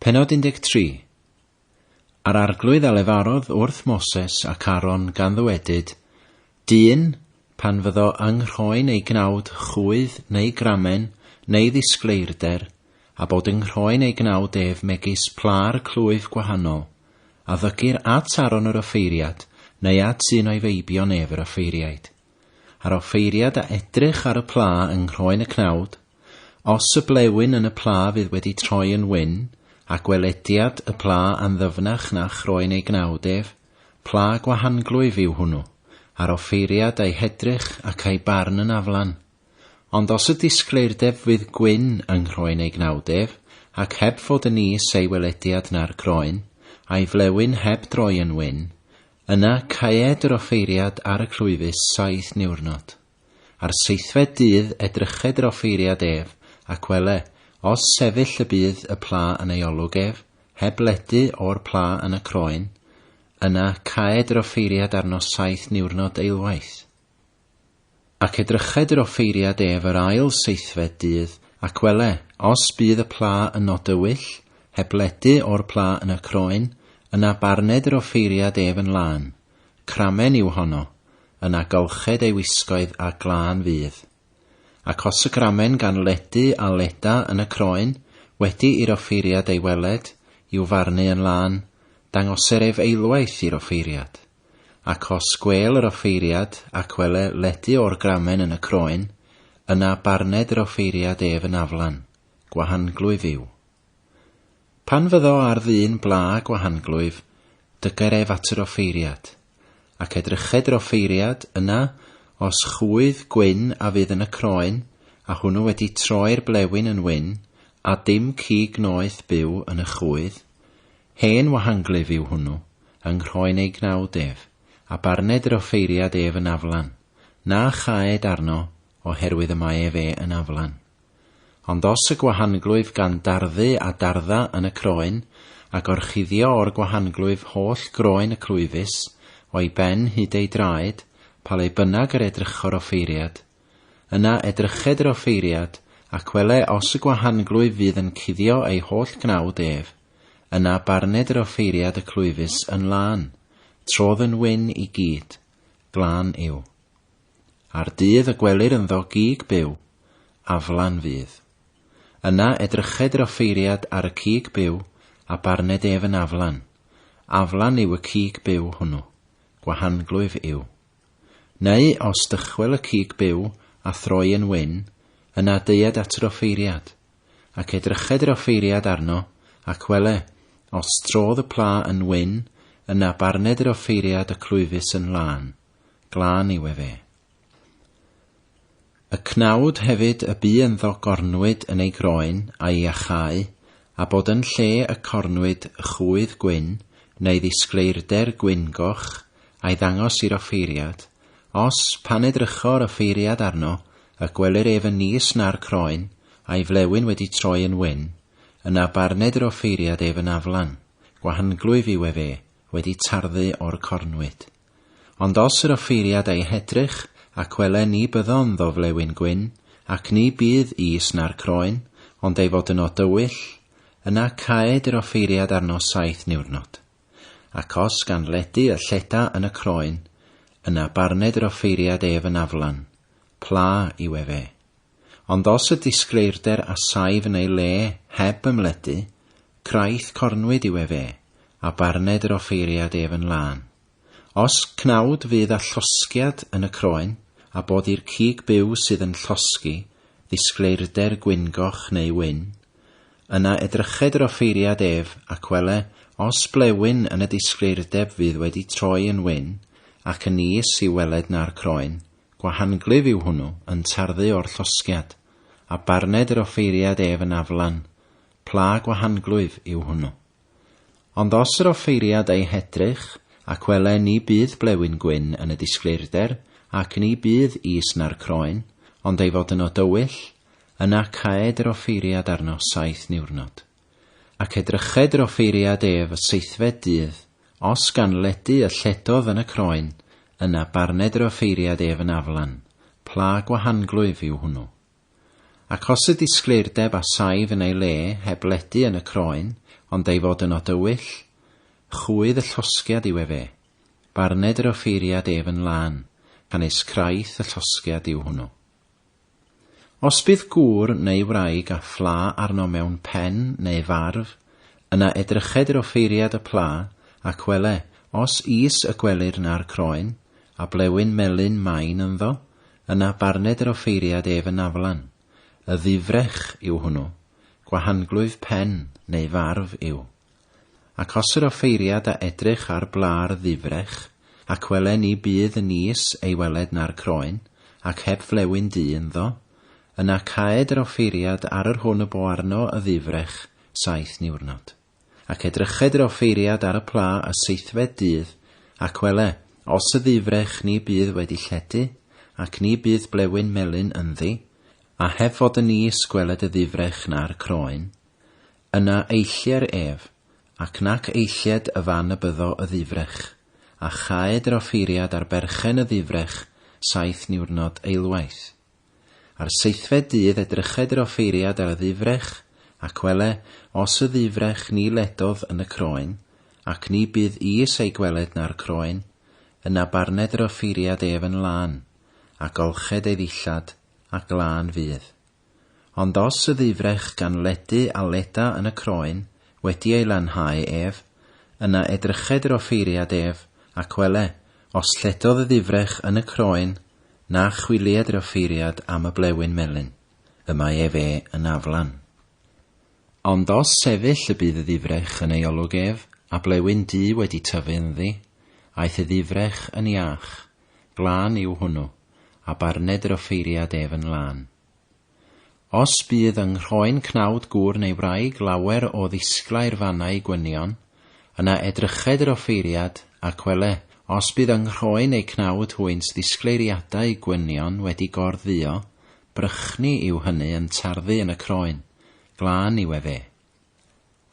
Pennod 13 A'r arglwydd a lefarodd wrth Moses ac Aaron gan ddywedyd, Dyn, pan fyddo yng nghroen ei gnawd chwydd neu gramen neu ddisgleirder, a bod yng nghroen ei gnawd ef megis pla'r clwyf gwahanol, a ddygir at Aaron yr offeiriad neu at un o'i feibion ef yr offeiriaid, a'r offeiriad a edrych ar y pla yng nghroen y cnawd, os y blewyn yn y pla fydd wedi troi yn wyn, a gwelediad y pla a'n ddyfnach na chroen ei gnawd ef, pla gwahanglwyf yw hwnnw, a'r offeiriad a'i hedrych ac a'i barn yn aflan. Ond os y disgleirdeb fydd gwyn yng nghroen ei gnawd ef, ac heb fod yn is ei welediad na'r groen, a'i flewyn heb droi yn wyn, Yna caed yr offeiriad ar y clwyfus saith niwrnod. Ar seithfed dydd edryched yr offeiriad ef, ac wele, os sefyll y bydd y pla yn ei olwg ef, heb ledu o'r pla yn y croen, yna caed yr offeiriad arno saith niwrnod eilwaith. Ac edryched yr offeiriad ef yr ail seithfed dydd, ac wele, os bydd y pla yn nod dywyll, heb ledu o'r pla yn y croen, yna barned yr offeiriad ef yn lân, cramen yw honno, yna golched ei wisgoedd a glân fydd. Ac os y gramen gan ledu a leda yn y croen, wedi i'r offeiriad ei weled, i'w farnu yn lân, dangoser ef eilwaith i'r offeiriad. Ac os gwêl yr offeiriad, ac wele ledu o'r gramen yn y croen, yna barned yr offeiriad ef yn aflan, gwahanglwyf yw. Pan fyddo ar ddyn bla gwahanglwyf, dyger ef at yr offeiriad. Ac edryched yr offeiriad, yna, os chwydd gwyn a fydd yn y croen, a hwnnw wedi troi'r blewyn yn wyn, a dim cig noeth byw yn y chwydd, Hen wahanglyf yw hwnnw, yng nghroen ei gnawd ef, a barned yr offeiriad ef yn aflan, na chaed arno, o herwydd y mae ef e yn aflan. Ond os y gwahanglwyf gan darddu a dardda yn y croen, a gorchuddio o'r gwahanglwyf holl groen y clwyfus, o'i ben hyd ei draed, pa le bynag yr edrycho'r offeiriad, yna edryched yr offeiriad, ac wele os y gwahanglwyf fydd yn cuddio ei holl gnawd ef, Yna barned yr offeiriad y clwyfus yn lân, trodd yn wyn i gyd, glân yw. A'r dydd y gwelir ynddo gig byw, aflan fydd. Yna edryched yr offeiriad ar y cig byw a barned ef yn aflan, aflan yw y cig byw hwnnw, gwahanglwyf yw. Neu os dychwel y cig byw a throi yn wyn, yna deued at yr offeiriad, ac edryched yr offeiriad arno, ac wele, os trodd y pla yn wyn, yna barned yr offeiriad y clwyfus yn lân, glân yw efe. Y cnawd hefyd y bu ynddo gornwyd yn ei groen a'i iachau, a bod yn lle y cornwyd chwydd gwyn, neu ddisgleirder gwyn-goch, a'i ddangos i'r offeiriad, os, pan edrycho yr offeiriad arno, y gwelir ef yn nis na'r croen, a'i flewyn wedi troi yn wyn, yna barned yr offeiriad ef yn aflan, gwahanglwyf yw ef e, wedi tarddu o'r cornwyd. Ond os yr offeiriad ei hedrych, ac wele ni byddon ddo flewyn gwyn, ac ni bydd is na'r croen, ond ei fod yno dywyll, yna caed yr offeiriad arno saith niwrnod. Ac os gan ledu y lleda yn y croen, yna barned yr offeiriad ef yn aflan, pla yw ef e. Ond os y disgleirder a saif yn ei le heb ymledu, craith cornwyd yw ef e, a barned yr offeiriad ef yn lân. Os cnawd fydd â llosgiad yn y croen, a bod i'r cig byw sydd yn llosgi ddisgleirder gwyngoch neu wyn, yna edryched yr offeiriad ef ac wele os blewyn yn y disgleirdeb fydd wedi troi yn wyn, ac yn is i'w weled na'r croen, Gwahanglyf yw hwnnw, yn tarddu o'r llosgiad, a barned yr offeiriad ef yn aflan, pla gwahanglwyf yw hwnnw. Ond os yr offeiriad ei hedrych, ac wele ni bydd blewyn gwyn yn y disgleirder, ac ni bydd is na'r croen, ond ei fod yno dywyll, yna caed yr offeiriad arno saith niwrnod. Ac edryched yr offeiriad ef y seithfed dydd, os gan ledu y lledodd yn y croen, yna barned yr offeiriad ef yn aflan, pla gwahanglwyf yw hwnnw. Ac os y disgleirdeb a saif yn ei le heb ledu yn y croen, ond ei fod yn odywyll, chwydd y llosgiad yw efe, barned yr offeiriad ef yn lân, canys craith y llosgiad yw hwnnw. Os bydd gŵr neu wraig â phla arno mewn pen neu farf, yna edryched i'r offeiriad y pla, ac wele, os is y gwelir na'r croen, a blewyn melyn main ynddo, yna barned yr offeiriad ef yn aflan. Y ddifrech yw hwnnw, gwahanglwyf pen neu farf yw. Ac os yr offeiriad a edrych ar blâ'r ddifrech, ac wele ni bydd y nis ei weled na'r croen, ac heb flewyn du ynddo, yna caed yr offeiriad ar yr hwn y bo arno y ddifrech saith niwrnod. Ac edryched yr offeiriad ar y plâ y seithfed dydd, ac wele, os y ddifrech ni bydd wedi lledu, ac ni bydd blewyn melyn ynddi, a heb fod y nis gweled y ddifrech na'r croen, Yna eillie'r ef, ac nac eillied y fan y byddo y ddifrech, a chaed yr offeiriad ar berchen y ddifrech saith niwrnod eilwaith. A'r seithfed dydd edryched yr offeiriad ar y ddifrech, ac wele, os y ddifrech ni ledodd yn y croen, ac ni bydd is ei gweled na'r croen, yna barned yr offeiriad ef yn lân, a golched ei ddillad, a glân fydd. Ond os y ddyfrech gan ledu a leda yn y croen wedi ei lanhau ef, yna edryched yr offeiriad ef, ac wele, os lledodd y ddyfrech yn y croen, na chwilied yr offeiriad am y blewyn melyn, y mae ef e yn aflan. Ond os sefyll y bydd y ddyfrech yn ei olwg ef, a blewyn du wedi tyfu ynddi, aeth y ddyfrech yn iach, glân yw hwnnw, a barned yr offeiriad ef yn lân. Os bydd yng nghroen cnawd gŵr neu wraig lawer o ddisglair fannau gwynion, yna edryched yr offeiriad, ac wele, os bydd yng nghroen eu cnawd hwynt ddisgleiriadau gwynion wedi gor-dduo, brychni yw hynny yn tarddu yn y croen, glân yw efe.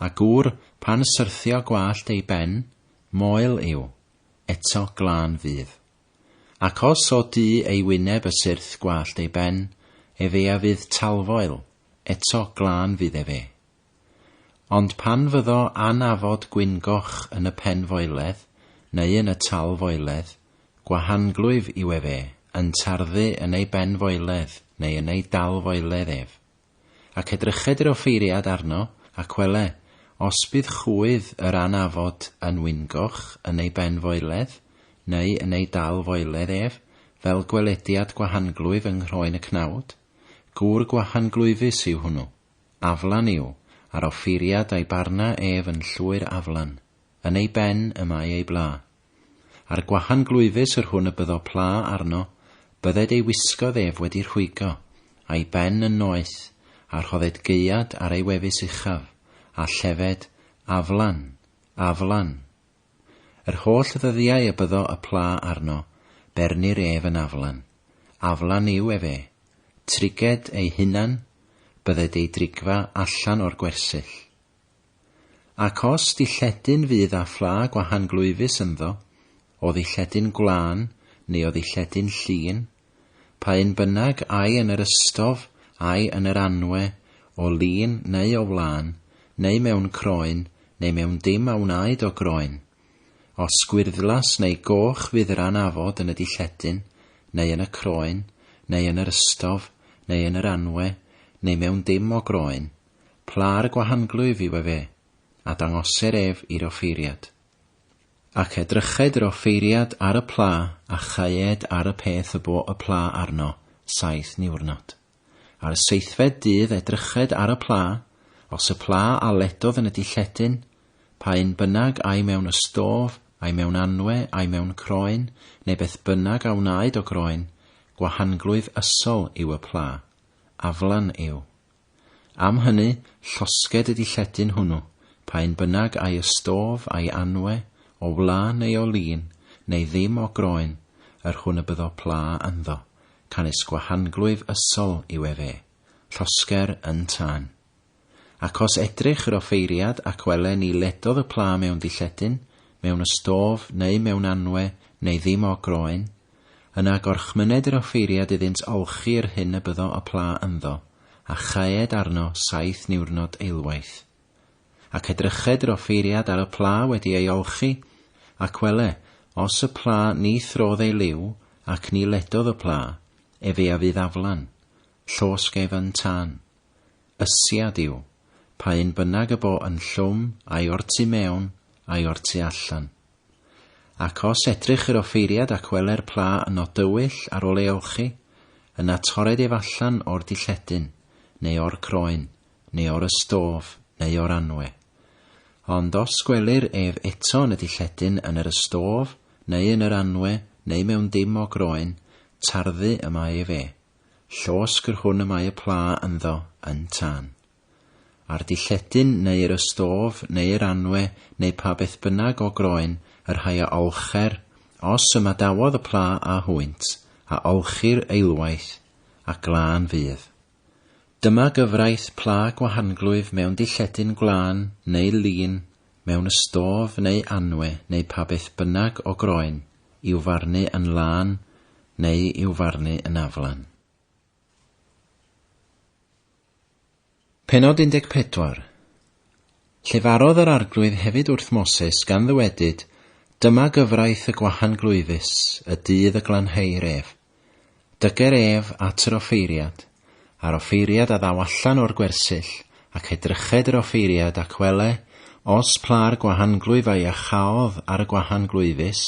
A gŵr, pan syrthio gwallt ei ben, moel yw, eto glân fydd. Ac os o du ei wyneb y syrth gwallt ei ben, efe a fydd talfoel, eto glân fydd efe. Ond pan fyddo anafod gwyngoch yn y penfoeledd, neu yn y talfoeledd, gwahanglwyf yw efe, yn tarddu yn ei benfoeledd neu yn ei dalfoeledd ef. Ac edryched yr offeiriad arno, ac wele, os bydd chwydd yr anafod yn wyngoch yn ei ben foeledd, neu yn ei dal foeledd ef, fel gwelediad gwahanglwyf yng nghroen y cnawd, gŵr gwahanglwyfus yw hwnnw, aflan yw, a'r offeiriad a'i barna ef yn llwyr aflan, yn ei ben y mae ei bla. Ar gwahan glwyfus yr hwn y byddo pla arno, bydded ei wisgodd ef wedi rhwygo, a'i ben yn noeth, a rhodded gaead ar ei wefus uchaf, a llefed, Aflan! Aflan! Yr holl ddyddiau y byddo y pla arno, bernir ef yn aflan. Aflan yw efe. Triged ei hunan, bydded ei drigfa allan o'r gwersyll. Ac os dilledyn fydd â phla gwahan glwyfus ynddo, o ddilledyn gwlân neu o ddilledyn llin, pa un bynnag ai yn yr ystof, ai yn yr anwe, o lin neu o wlân, neu mewn croen, neu mewn dim a wnaed o groen, os gwyrddlas neu goch fydd yr anafod yn y dilledyn, neu yn y croen, neu yn yr ystof, neu yn yr anwe, neu mewn dim o groen, Pla ar y gwahanglwyf yw efe, a dangoser ef i'r offeiriad. Ac edryched yr offeiriad ar y pla, a chaed ar y peth y bo y pla arno saith niwrnod. Ar y seithfed dydd edryched ar y pla, os y pla a ledodd yn y dilledyn, pa un bynag ai mewn ystof, ai mewn anwe, ai mewn croen, neu beth bynag a wnaed o groen, gwahanglwyf ysol yw y pla. Aflan yw. Am hynny, llosged y dilledyn hwnnw, pa un bynnag a'i ystof, a'i anwe, o wla neu o lin, neu ddim o groen, yr hwn y byddo pla ynddo, canys gwahanglwyf ysol yw ef e, llosger yn tân. Ac os edrych yr offeiriad ac wele ni ledodd y pla mewn dilledyn, mewn ystof, neu mewn anwe, neu ddim o groen, Yna gorchmyned yr offeiriad iddynt olchi yr hyn y byddo y pla ynddo, a chaed arno saith niwrnod eilwaith. Ac edryched yr offeiriad ar y pla wedi ei olchi, ac wele, os y pla ni throdd ei liw, ac ni ledodd y pla, efe a fydd aflan, llosg ef yn tân. Ysiad yw, pa un bynnag y bo yn llwm, ai o'r tu mewn, ai o'r tu allan. Ac os edrych i'r offeiriad ac wele'r pla yn nod dywyll ar ôl ei olchi, yna torred ef allan o'r dilledyn, neu o'r croen, neu o'r ystôf, neu o'r anwe. Ond os gwelir ef eto yn y dilledyn, yn yr ystôf, neu yn yr anwe, neu mewn dim o groen, tarddu y mae ef e. Llosg yr hwn y mae y pla ynddo yn tân. Ar dy lledyn neu yr ystof neu yr anwe neu pa beth bynnag o groen y rhai a olcher, os ymadawodd y pla â hwynt, a olchir eilwaith, a glân fydd. Dyma gyfraith pla gwahanglwyf mewn dy lledyn gwlân neu lin, mewn ystof neu anwe neu pa beth bynnag o groen, i'w farnu yn lân neu i'w farnu yn aflan. Pennod 14. Llefarodd yr Arglwydd hefyd wrth Moses, gan ddywedyd, Dyma gyfraith y gwahan glwyfus, y dydd y glanheir ef. Dyger ef at yr offeiriad, a'r offeiriad a ddaw allan o'r gwersyll, ac edryched yr offeiriad, ac wele, os pla'r gwahan glwyfau a chaodd ar y gwahan glwyfus,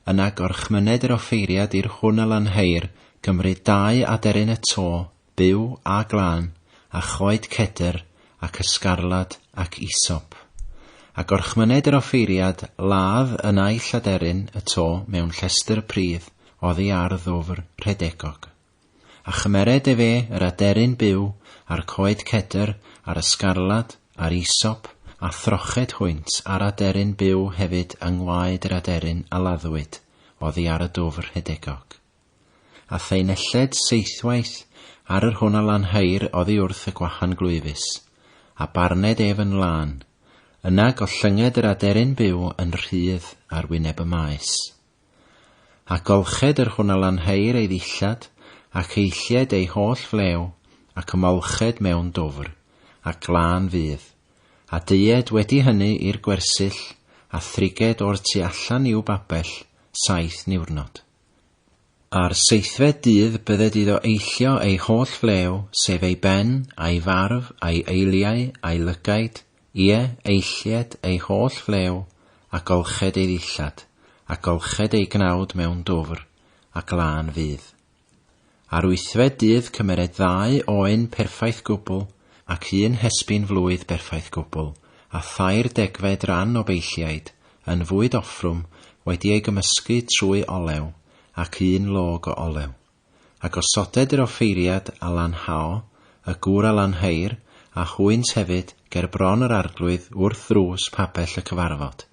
yna gorchmyned yr offeiriad i'r hwn a lanheir, gymryd dau aderyn y to, byw a glân, a choed cedr, ac ysgarlad, ac isop. A gorchmyned yr offeiriad ladd y naill aderyn y to mewn llestr pridd oddi ar ddwfr rhedegog. A chymered efe yr aderyn byw, a'r coed cedr, a'r ysgarlad, a'r isop, a throched hwynt a'r aderyn byw hefyd yng ngwaed yr aderyn a laddwyd oddi ar y dwfr rhedegog. A thai nelled seithwaith ar yr hwn a lanhair oddi wrth y gwachan glwyfus, a barned ef yn lân. Yna gollynged yr aderyn byw yn rhydd ar wyneb y maes. A golched yr hwn a lanhair ei ddillad, ac eilled ei holl flew, ac ymolched mewn dwfr, a glân fydd. A deued wedi hynny i'r gwersyll, a thriged o'r tu allan i'w babell saith niwrnod. Ar seithfed dydd bydded iddo eillio ei holl flew, sef ei ben, a'i farf, a'i eiliau, a'i lygaid, ie, eillied ei holl flew, a golched ei ddillad, a golched ei gnawd mewn dwfr, ac lân fydd. Ar wythfed dydd cymered ddau oen perffaith gwbl, ac un hesbyn flwydd berffaith gwbl, a thair degfed ran o beilliaid, yn fwyd offrwm, wedi ei gymysgu trwy olew, ac un log o olew. A gosoded yr offeiriad a lanhao, y gŵr a lanheir, a hwynt hefyd, ger bron yr arglwydd wrth ddrws pabell y cyfarfod.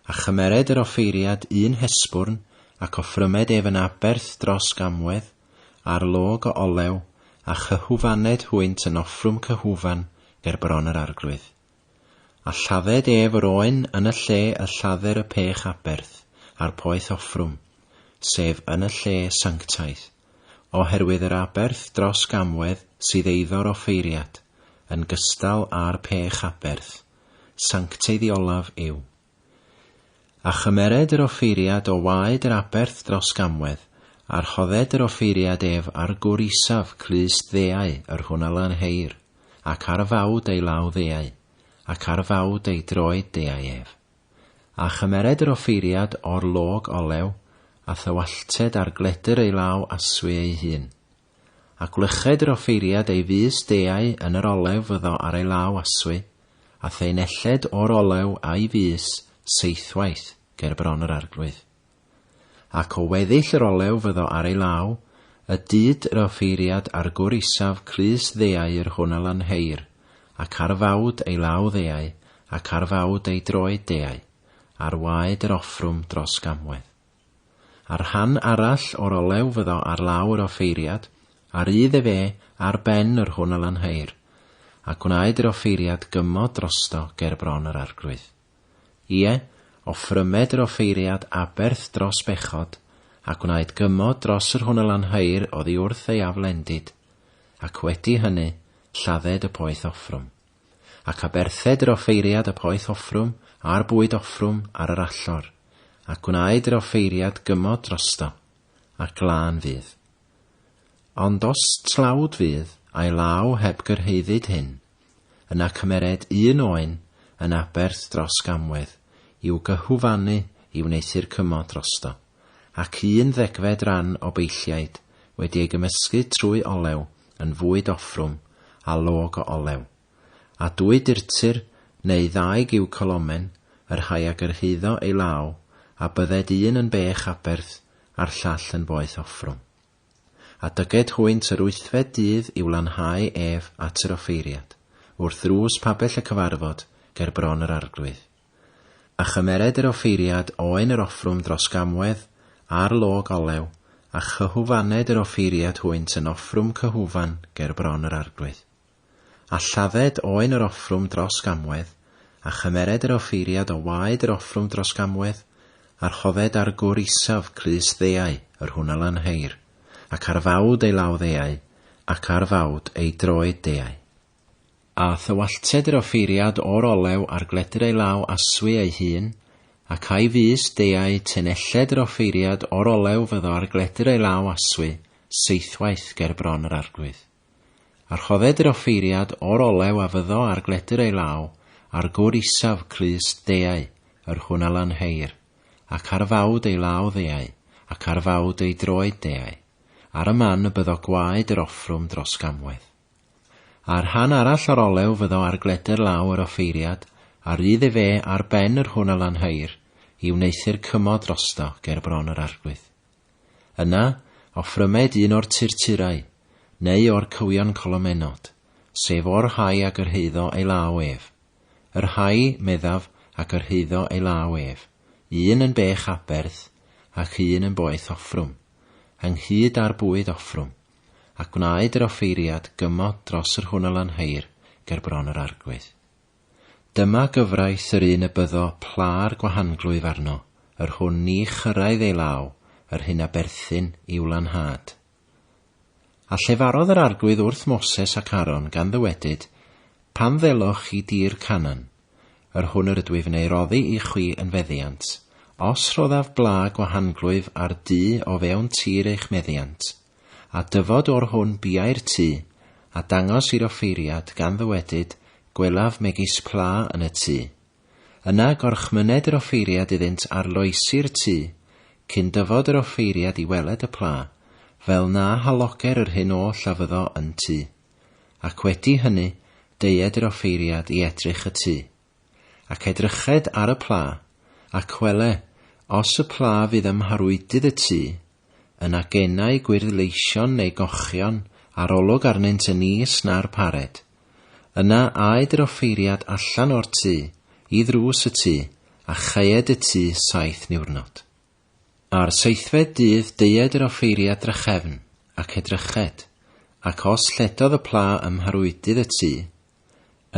A chymered yr offeiriad un hesbwrn, ac offrymed ef yn aberth dros gamwedd, ar log o olew, a chyhwfaned hwynt yn offrwm cyhwfan ger bron yr arglwydd. A lladded ef yr oen yn y lle y lladder y pech aberth, a'r poeth offrwm, sef yn y lle sanctaidd, oherwydd yr aberth dros gamwedd sydd eiddo'r offeiriad, yn gystal â'r pech aberth. sanctaidd i olaf yw. A chymered yr offeiriad o waed yr aberth dros gamwedd, a rhodded yr offeiriad ef ar gwr isaf clust ddeau yr hwn a lanheir, ac ar fawd ei law ddeau, ac ar fawd ei droed deau ef. A chymered yr offeiriad o'r log olew, a thywallted ar gledr ei law aswy ei hun. A gwlyched yr offeiriad ei fys deau yn yr olew fyddo ar ei law aswy, a thei nelled o'r olew a'i fys seithwaith ger bron yr arglwydd. Ac o weddill yr olew fyddo ar ei law, y dyd yr offeiriad ar gwr isaf crys ddeau yr hwn a lanheir, ac ar fawd ei law ddeau, ac ar fawd ei droed deau, ar waed yr offrwm dros gamwedd. Ar rhan arall o'r olew fyddo ar law yr offeiriad, a rydd ef e ar ben yr hwn a lanheir, a gwnaed yr offeiriad gymod drosto ger bron yr arglwydd. Ie, offrymed yr offeiriad aberth dros bechod, a gwnaed gymod dros yr hwn a lanheir oddi wrth ei aflendid, ac wedi hynny lladded y poeth offrwm. Ac aberthed yr offeiriad y poeth offrwm, a'r bwyd offrwm ar yr allor, a gwnaed yr offeiriad gymod drosto, a glân fydd. Ond os tlawd fydd a'i law heb gyrhaeddyd hyn, yna cymered un oen yn aberth dros gamwedd i'w gyhwfanu i wneuthur cymod drosto. ac un ddegfed ran o beilliaid wedi ei gymysgu trwy olew yn fwyd offrwm a log o olew, a dwy dirtir neu ddau giw colomen, y rhai a gyrhaeddo ei law, a bydded un yn bech aberth a'r llall yn boeth offrwm. A dyged hwynt yr wythfed dydd i'w lanhau ef at yr offeiriad, wrth ddrws pabell y cyfarfod ger bron yr arglwydd. A chymered yr offeiriad oen yr offrwm dros gamwedd, a'r log olew, a chyhwfaned yr offeiriad hwynt yn offrwm cyhwfan ger bron yr arglwydd. A lladded oen yr offrwm dros gamwedd, a chymered yr offeiriad o waed yr offrwm dros gamwedd, a rhodded ar gwr isaf crys ddeau yr hwnalanheir, ac ar fawd ei law ddeau, ac ar fawd ei droed deau. A thywallted yr offeiriad o'r olew ar gledr ei law aswy ei hun, ac a'i fys deuai tenelled yr offeiriad o'r olew fyddo ar gledr ei law aswy seithwaith ger bron yr arglwydd. A rhodded yr offeiriad o'r olew a fyddo ar gledr ei law ar gwr isaf clust deuai yr hwn a lanheir, ac ar fawd ei law ddeuai, ac ar fawd ei droed deuai, ar y man y byddo gwaed yr offrwm dros gamwedd. Ar rhan arall o'r olew fyddo ar gledr law yr offeiriad, a rydd efe ar ben yr hwn a lanheuir, i wneuthur cymod drosto ger bron yr arglwydd. Yna, offrymed un o'r turturau, neu o'r cywion colomenod, sef o'r rhai a gyrhaeddo ei law ef. Yr rhai, meddaf, a gyrhaeddo ei law ef, un yn bech aberth, ac un yn boeth offrwm, ynghyd â'r bwyd offrwm, a gwnaed yr offeiriad gymod dros yr hwn a lanheir ger bron yr arglwydd. Dyma gyfraith yr un y byddo pla'r gwahanglwyf arno, yr hwn ni chyrraedd ei law, yr hyn a berthyn i'w lanhad. A llefarodd yr arglwydd wrth Moses ac Aaron gan ddywedyd, Pan ddeloch chi dir Canan, Yr hwn yr ydwyf yn ei roddi i chwi yn feddiant, os rhoddaf bla gwahanglwyf ar du o fewn tir eich meddiant, a dyfod o'r hwn biau'r tu, a dangos i'r offeiriad, gan ddywedyd, Gwelaf megis pla yn y tu. Yna gorchmyned yr offeiriad iddynt arloesi'r tu, cyn dyfod yr offeiriad i weled y pla, fel na haloger yr hyn oll a fyddo yn tu. Ac wedi hynny deued yr offeiriad i edrych y tu. Ac edryched ar y pla, ac wele, os y pla fydd ym mharwydydd y tu, yna genai gwyrdd leision neu gochion a'r olwg arnynt yn is na'r pared. Yna aed yr offeiriad allan o'r tu, i ddrws y tu, a chaeed y tu saith niwrnod. A'r seithfed dydd deued yr offeiriad drachefn, ac edryched, ac os lledodd y pla ym mharwydydd y tŷ,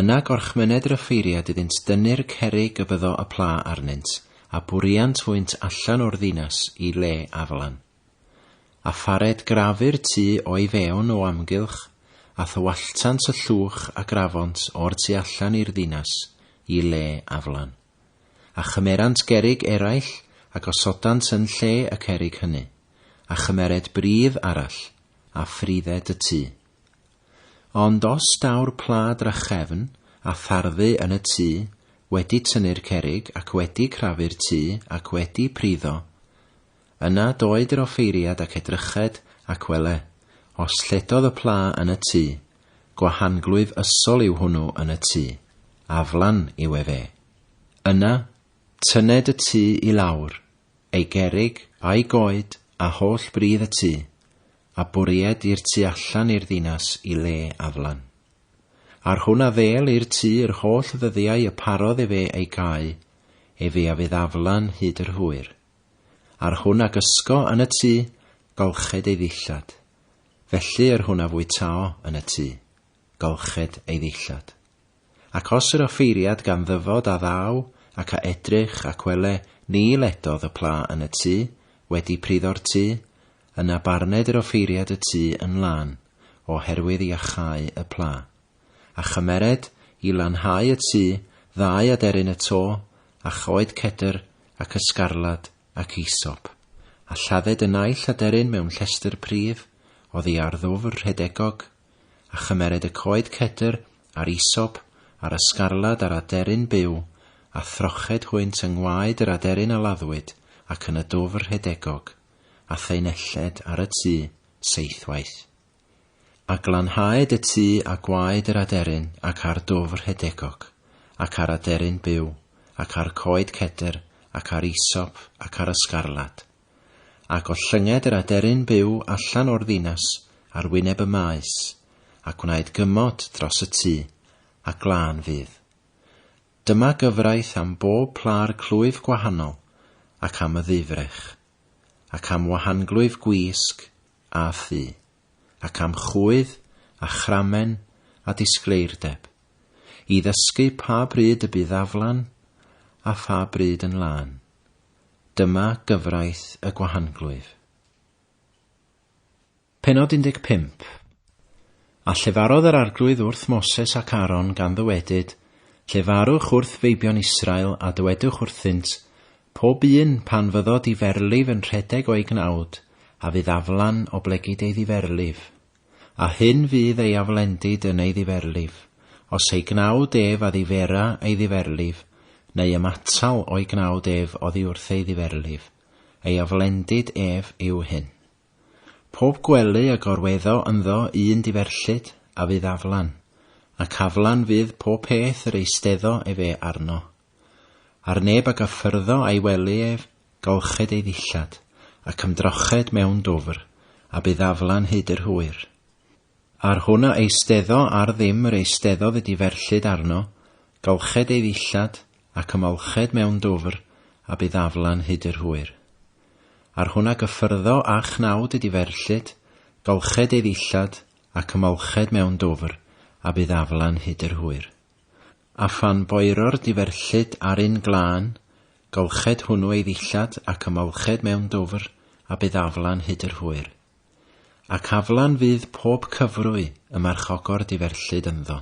yna gorchmyned yr offeiriad iddynt dynnu'r cerrig y byddo y pla arnynt, a bwriant hwynt allan o'r ddinas i le aflan. A phared grafu'r tŷ o'i fewn o amgylch, a thywalltant y llwch a grafont o'r tu allan i'r ddinas i le aflan. A chymerant gerrig eraill, a gosodant yn lle y cerrig hynny, a chymered bridd arall, a phrided y tŷ. Ond os daw'r pla drachefn, a tharddu yn y tŷ, wedi tynnu'r cerrig, ac wedi crafu'r tŷ, ac wedi priddo, Yna doed yr offeiriad ac edryched, ac wele, os lledodd y pla yn y tŷ, gwahanglwyf ysol yw hwnnw yn y tŷ, aflan yw ef e. Yna, tynned y tŷ i lawr, ei gerrig, a'i goed, a holl bridd y tŷ, a bwried i'r tu allan i'r ddinas i le aflan. Ar hwn a ddêl i'r tŷ yr holl ddyddiau y parodd efe ei gau, efe a fydd aflan hyd yr hwyr. Ar hwn a gysgo yn y tŷ, golched ei ddillad. Felly yr hwn a fwytao yn y tŷ, golched ei ddillad. Ac os yr offeiriad gan ddyfod a ddaw, ac a edrych, ac wele, ni ledodd y pla yn y tŷ, wedi pryddo'r tŷ, yna barned yr offeiriad y tŷ yn lân, oherwydd iachau y pla. a chymered i lanhau y tu ddau aderyn y to, a choed cedr, ac ysgarlad, ac eisop, a lladded y naill aderyn mewn llestr prif, oddi ar ddwfr rhedegog, a chymered y coed cedr, a'r eisop, a'r ysgarlad a'r aderyn byw, a throched hwynt yng ngwaed yr aderyn a laddwyd, ac yn y dwfr rhedegog, a thaenelled ar y tu, seithwaith. A glanhaed y tu a gwaed yr aderyn ac a'r dwf rhedegog, ac a'r aderyn byw, ac a'r coed cedr, ac a'r isop, ac a'r ysgarlad. A gollynged yr aderyn byw allan o'r ddinas ar wyneb y maes, a gwnaed gymod dros y tu, a glân fydd. Dyma gyfraith am bob plâr clwyf gwahanol, ac am y ddifrech, ac am wahanglwyf gwisg, a thu, ac am chwydd, a chramen, a disgleirdeb, i ddysgu pa bryd y bydd aflan, a pha bryd yn lân. Dyma gyfraith y gwahanglwyf. Pennod 15 A llefarodd yr arglwydd wrth Moses ac Aaron gan ddywedyd, Llefarwch wrth feibion Israel a dywedwch wrthynt, Pob un, pan fyddo di ferlif yn rhedeg o'i gnawd, a fydd aflan oblegid ei ddiferlif. A hyn fydd ei aflendid yn ei ddiferlif, os ei gnawd ef a ddifera ei ddiferlif, neu ymatal o'i gnawd ef oddi wrth ei ddiferlif, ei aflendid ef yw hyn. Pob gwely a gorweddo ynddo un diferllid, a fydd aflan, ac aflan fydd pob peth yr eisteddo efe arno. Ar neb ag a ffyrddo a'i wely ef, golched ei ddillad, ac ymdroched mewn dwfr, a bu ddaflan hyd yr hwyr. Ar hwn a eisteddo ar ddim yr eisteddodd y diferllyd arno, golched ei ddillad, ac ymolched mewn dwfr, a bu ddaflan hyd yr hwyr. Ar hwn a gyffyrddo a chnawd y diferllyd, golched ei ddillad, ac ymolched mewn dwfr, a bu ddaflan hyd yr hwyr. A phan boero'r diverllyd ar un glân, golched hwnnw ei ddillad ac ymolched mewn dwfr, a bydd aflan hyd yr hwyr. Ac aflan fydd pob cyfrwy y marchogor diverllyd ynddo.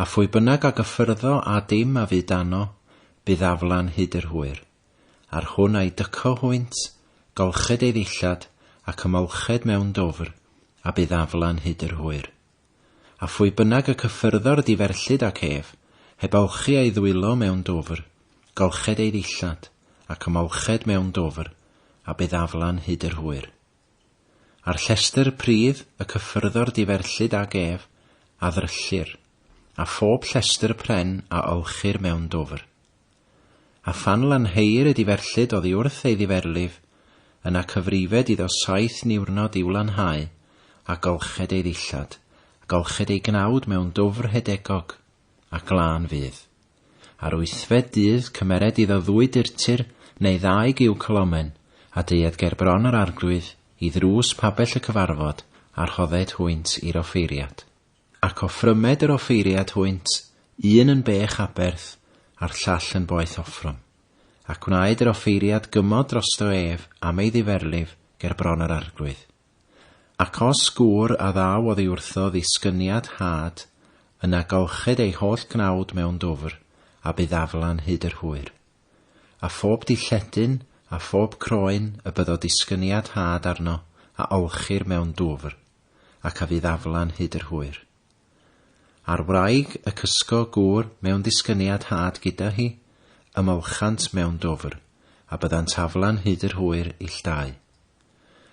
A phwy bynnag a gyffyrddo â dim a fu dano, bydd aflan hyd yr hwyr. Ar hwn a'i dyco hwynt, golched ei ddillad, ac ymolched mewn dwfr, a bydd aflan hyd yr hwyr. A phwy bynnag y cyffyrddodd diferllyd ac ef, heb awchu ei ddwylo mewn dwfr, golched ei ddillad, ac ymolched mewn dwfr, a bydd aflan hyd yr hwyr. A'r llestr pridd y cyffyrddodd diferllyd ag ef, a ddryllir, a phob llestr pren a olchir mewn dwfr. A phan lanheir y diferllyd oddi wrth ei ddiferlif, yna cyfrifed iddo saith niwrnod i'w lanhau, a golched ei ddillad, a golched ei gnawd mewn dwfr rhedegog, a glân fydd. Ar wythfed dydd cymered iddo ddwy durtur neu ddau giw cylomen, a deued ger bron yr arglwydd, i ddrws pabell y cyfarfod, a rhodded hwynt i'r offeiriad. Ac offrymed yr offeiriad hwynt, un yn bech aberth, a'r llall yn boeth offrwm. Ac gwnaed yr offeiriad gymod drosto ef am ei ddiferlif ger bron yr arglwydd. Ac os gŵr a ddaw oddi wrtho ddisgyniad had, yna golchid ei holl gnawd mewn dwfr, a bydd aflan hyd yr hwyr. A phob dilledyn, a phob croen, y byddo disgyniad had arno, a olchir mewn dwfr. ac a fydd aflan hyd yr hwyr. A'r wraig y cysgo gŵr mewn disgyniad had gyda hi, ymolchant mewn dwfr, a byddant aflan hyd yr hwyr ill dau.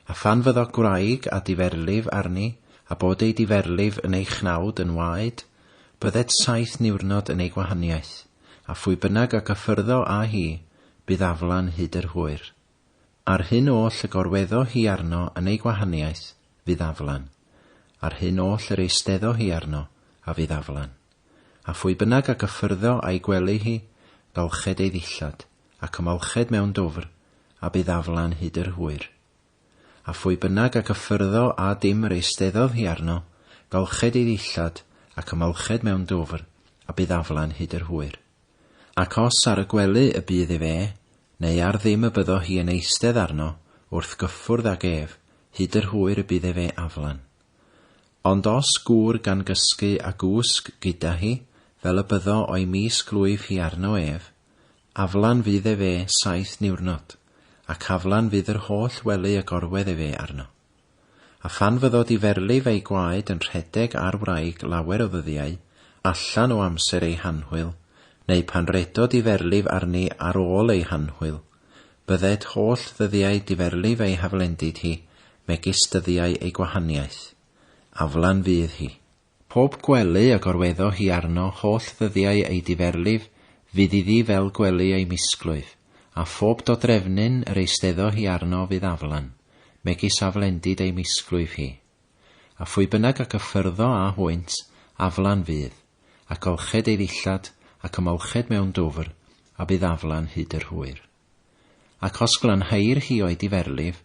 A phan fyddo gwraig a diferlif arni, a bod ei diferlif yn ei chnawd yn waed, byddet saith niwrnod yn ei gwahaniaeth, a phwy bynnag a gyffyrddo â hi, bydd aflan hyd yr hwyr. A'r hyn oll y gorweddo hi arno yn ei gwahaniaeth, fydd aflan. A'r hyn oll yr eisteddo hi arno, a fydd aflan. A phwy bynnag a gyffyrddo a'i gwely hi, balched ei ddillad, ac ymolched mewn dwfr, a bydd aflan hyd yr hwyr. A phwy bynnag a gyffyrddo â dim yr eisteddodd hi arno, balched ei ddillad, ac ymolched mewn dwfr, a bydd aflan hyd yr hwyr. Ac os ar y gwely y bydd ef e, neu ar ddim y byddo hi yn eistedd arno, wrth gyffwrdd ag ef, hyd yr hwyr y bydd ef e aflan. Ond os gŵr gan gysgu a gwsg gyda hi, fel y byddo o'i mis glwyf hi arno ef, aflan fydd ef e saith niwrnod, ac aflan fydd yr holl wely y gorwedd ef e arno. A phan fyddo di ferlif ei gwaed yn rhedeg ar wraig lawer o ddyddiau, allan o amser ei hanhwyl, neu pan redo di ferlif arni ar ôl ei hanhwyl, bydded holl ddyddiau diferlif ei haflendid hi, megis dyddiau ei gwahaniaeth. Aflan fydd hi. Pob gwely y gorweddo hi arno holl ddyddiau ei diferlif fydd iddi fel gwely ei misglwyf, a phob dodrefnyn yr eisteddo hi arno fydd aflan, megis aflendid ei misglwyf hi. A phwy bynnag ac y ffyrddo â hwynt, aflan fydd, ac olched ei ddillad, ac ymolched mewn dwfr, a bydd aflan hyd yr hwyr. Ac os glanhair hi o'i diferlif,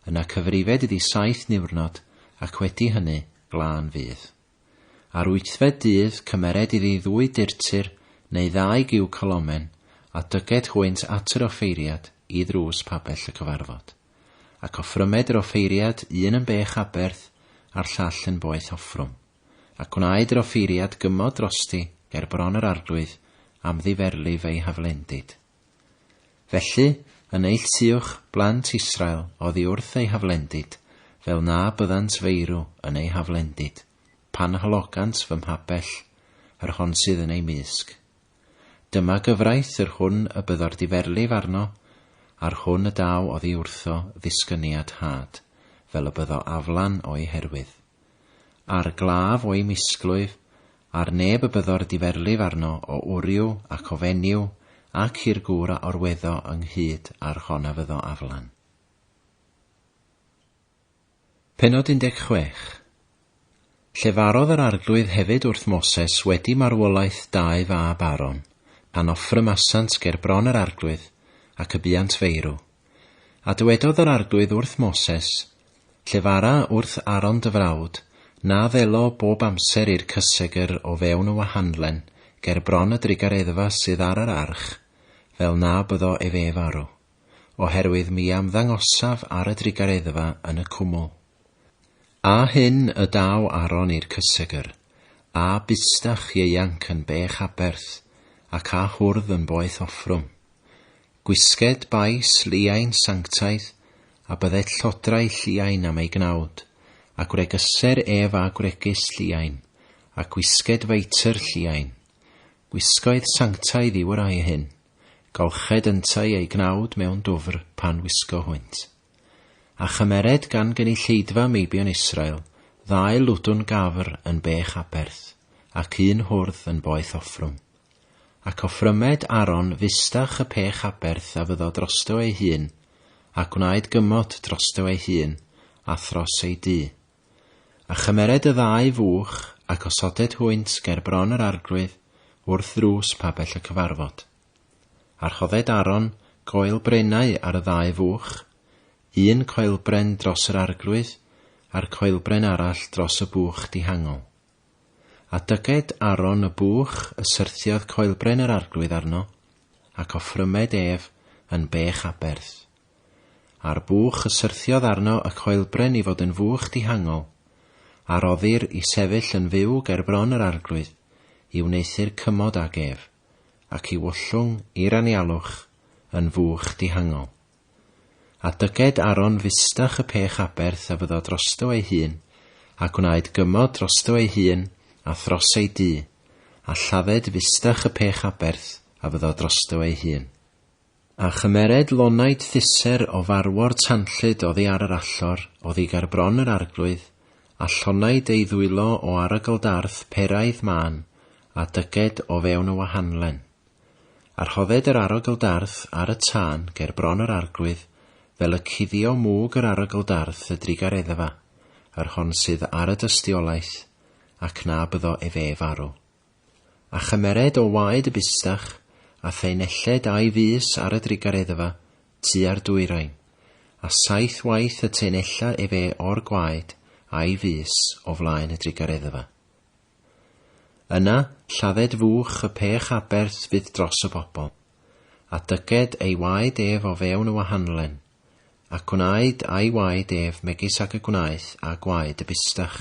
yna cyfrifed iddi saith niwrnod, ac wedi hynny, glân fydd. Ar wythfed dydd cymered iddi ddwy durtur neu ddau giw colomen, a dyged hwynt at yr offeiriad i ddrws pabell y cyfarfod. Ac offrymed yr offeiriad un yn bech aberth, a'r llall yn boeth offrwm. A gwnaed yr offeiriad gymod drosti ger bron yr arglwydd am ddiferlif ei haflendid. Felly, a neilltuwch blant Israel oddi wrth eu haflendid, fel na byddant feirw yn eu haflendid, pan halogant fy mhabell, yr hon sydd yn ei mysg. Dyma gyfraith yr hwn y byddor diferlif arno, a'r hwn y daw oddi wrtho ddisgyniad had, fel y byddo aflan o'i herwydd. a'r glaf o'i misglwyf, ar neb y byddo'r diferlif arno o wryw ac o fenyw ac i'r gŵr a orweddo ynghyd â'r hon a fyddo aflan. Pennod 16. Llefarodd yr Arglwydd hefyd wrth Moses wedi marwolaeth dau fab Aaron, pan offrymasant ger bron yr Arglwydd, ac y buant feirw. A dywedodd yr Arglwydd wrth Moses, Llefara wrth Aaron dy frawd, na ddelo bob amser i'r cysegr o fewn y wahanlen ger bron y drugareddfa sydd ar yr arch, fel na byddo ef ef arw, oherwydd mi amddangosaf ar y drugareddfa yn y cwmwl. A hyn y daw Aaron i'r cysegr, a bustach ieuanc yn bech aberth, ac a hwrdd yn boeth offrwm. Gwisged bais Lliain sanctaidd, a bydded llodrau Lliain am ei gnawd, a gwregeser ef a gwregys Lliain, a gwisged feitr Lliain. Gwisgoedd sanctaidd yw y rhai hyn, golched yntau eu gnawd mewn dwfr pan wisgo hwynt. A chymered gan gynulleidfa meibion Israel ddau ludwn gafr yn bech aberth, ac un hwrdd yn boeth offrwm, Ac offrymed Aaron fustach y pech aberth a fyddo drosto ei hun, a gwnaed gymot drosto ei hun, a thros ei dŷ. A chymered y ddau fuwch, ac osoded hwynt ger bron yr arglwydd, wrth ddrws pabell y cyfarfod. A rhodded Aaron goel brenau ar y ddau fuwch, un coelbren dros yr arglwydd, a'r coelbren arall dros y buwch dihangol. A dyged Aaron y buwch y syrthiodd coelbren yr Arglwydd arno, ac offrymed ef yn bech aberth. A'r buwch y syrthiodd arno y coelbren i fod yn fuwch dihangol, a roddir i sefyll yn fyw ger bron yr Arglwydd, i wneuthur cymod ag ef, ac i wllwng i'r anialwch yn fuwch dihangol. A dyged Aron fustach y pech aberth a fyddo drosto ei hun, a gwnaed gymod drosto ei hun a thros ei dŷ, a lladded fustach y pech aberth a fyddo drosto ei hun. A chymered lonaid thiser o farwor tanllyd oddi ar yr allor, oddi ger bron yr arglwydd, a llonaid ei ddwylo o arogl darth peraidd mân, a dyged o fewn y wahanlen. A rhodded yr arogl darth ar y tân ger bron yr arglwydd, fel y cuddio mwg yr arogl darth y drugareddefa, yr hon sydd ar y dystiolaeth, ac na byddo efe farw. A chymered o waed y bustach, a thaenelled a'i fys ar y drugareddefa, tua'r dwyrain, a saith waith y taenella efe o'r gwaed, a'i fys, o flaen y drugareddefa. Yna, lladded fuwch y pech aberth fydd dros y bobl, a dyged ei waed ef o fewn y wahanlen, a gwnaed a'i waed ef megis ag y gwnaeth â gwaed y bustach,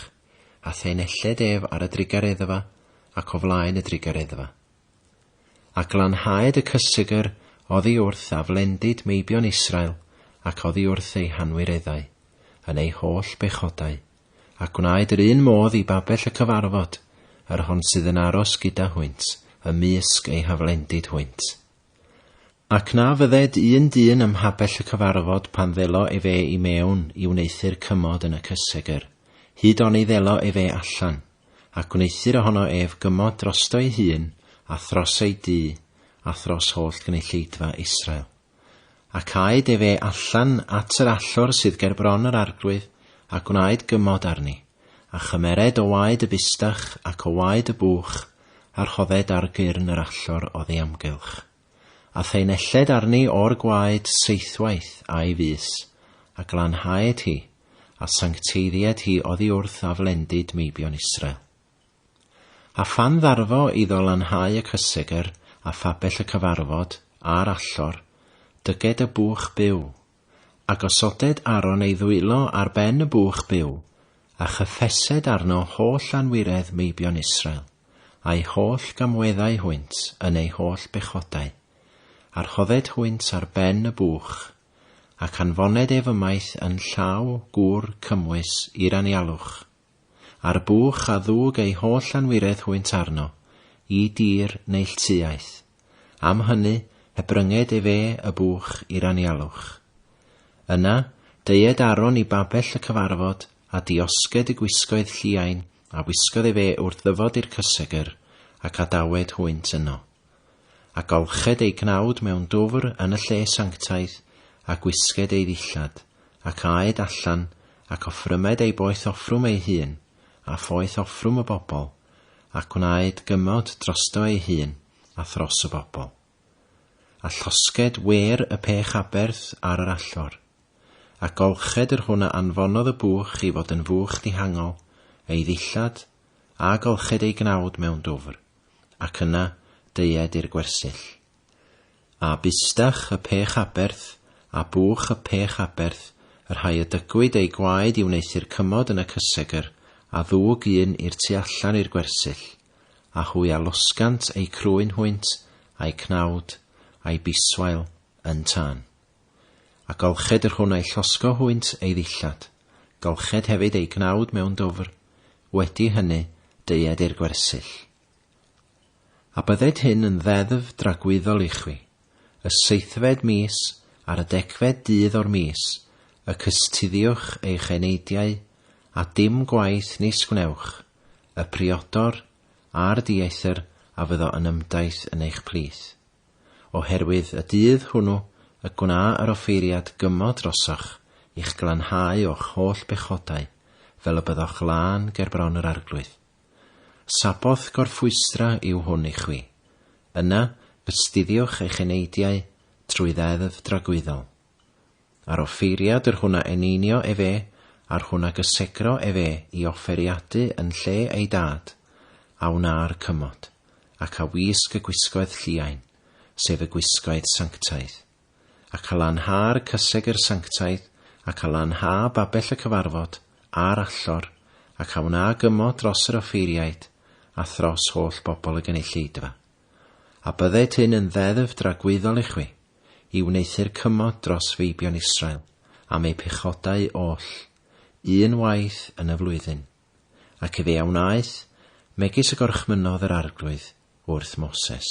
a thaenelled ef ar y drugareddfa ac o flaen y drugareddfa. A glanhaed y cysegr oddi wrth aflendid meibion Israel ac oddi wrth eu hanwireddau, yn eu holl bechodau. a gwnaed yr un modd i babell y cyfarfod, yr hon sydd yn aros gyda hwynt, ymysg ei haflendid hwynt. Ac na fydded un dyn ym mhabell y cyfarfod pan ddelo efe i mewn i wneuthur cymod yn y cysegr, hyd oni ddelo efe allan, a gwneuthur ohono ef gymod drosto ei hun, a thros ei dŷ, a thros holl gynulleidfa Israel. Ac aed ef e allan at yr allor sydd ger bron yr arglwydd, a gwnaed gymod arni, a chymered o waed y bustach ac o waed y bwch, a rhodded ar gyrn yr allor oddi amgylch. A thaenelled arni o'r gwaed seithwaith a'i fys, a glanhaed hi, a sancteiddied hi oddi wrth aflendid meibion Israel. A phan ddarfo iddo lanhau y cysegr a phabell y cyfarfod, a'r allor, dyged y bwch byw, a gosoded Aron ei ddwylo ar ben y bwch byw, a chyffesed arno holl anwiredd meibion Israel, a'u holl gamweddau hwynt yn eu holl bechodau, a rhodded hwynt ar ben y bwch, ac anfoned ef ymaith yn llaw gŵr cymwys i'r anialwch. A'r buwch a ddug ei holl anwiredd hwynt arno, i dir neilltuaeth. Am hynny, hebrynged efe y buwch i'r anialwch. Yna, deued Aaron i babell y cyfarfod, a diosged y gwisgoedd lliain a wisgodd efe wrth ddyfod i'r cysegr, ac adawed hwynt yno. A golched ei gnawd mewn dwfr yn y lle sanctaidd, a gwisged ei ddillad, ac aed allan, ac offrymed ei boeth offrwm ei hun, a phoeth offrwm y bobl, a gwnaed gymod drosto ei hun, a thros y bobl. A llosged wêr y pech aberth ar yr allor. A golched yr hwn a anfonodd y bwch i fod yn fuwch dihangol, ei ddillad, a golched ei gnawd mewn dwfr. ac yna deued i'r gwersyll. A bustach y pech aberth, a bwch y pech aberth, y rhai y dygwyd eu gwaed i wneuthur cymod yn y cysegr, a ddwg un i'r tu allan i'r gwersyll, a hwy a losgant eu crwyn hwynt, a'u cnawd, a'u biswail, yn tân. A golched yr hwn a'i llosgo hwynt ei ddillad, golched hefyd ei gnawd mewn dwfr, wedi hynny, deued i'r gwersyll. A bydded hyn yn ddeddf dragwyddol i chwi, y seithfed mis, ar y degfed dydd o'r mis, y cystuddiwch eich eneidiau, a dim gwaith nis gwnewch, y priodor, a'r dieithr a fyddo yn ymdaith yn eich plith. Oherwydd y dydd hwnnw y gwna yr offeiriad gymod drosoch, i'ch glanhau o'ch holl bechodau, fel y byddoch lân ger bron yr Arglwydd. Saboth gorffwystra yw hwn i chwi. Yna, gystuddiwch eich eneidiau trwy Ddeddf dragwyddol. Ar offeiriad yr hwn a eneinio efe, a'r hwn a gysegro efe i offeriadu yn lle ei dad, a wnâ'r cymod, ac a wisg y gwisgoedd lliain, sef y gwisgoedd sanctaidd. Ac a lanhâ'r cyseg yr sanctaidd, ac a lanhâ babell y cyfarfod, a'r allor, ac a wna gymod dros yr offeiriaid, a thros holl bobl y gynulleidfa. A bydded hyn yn ddeddf dragwyddol i chwi. i wneuthur cymod dros feibion Israel am eu pechodau oll, un waith yn y flwyddyn. Ac efe a wnaeth, megis y gorchmynnodd yr Arglwydd wrth Moses.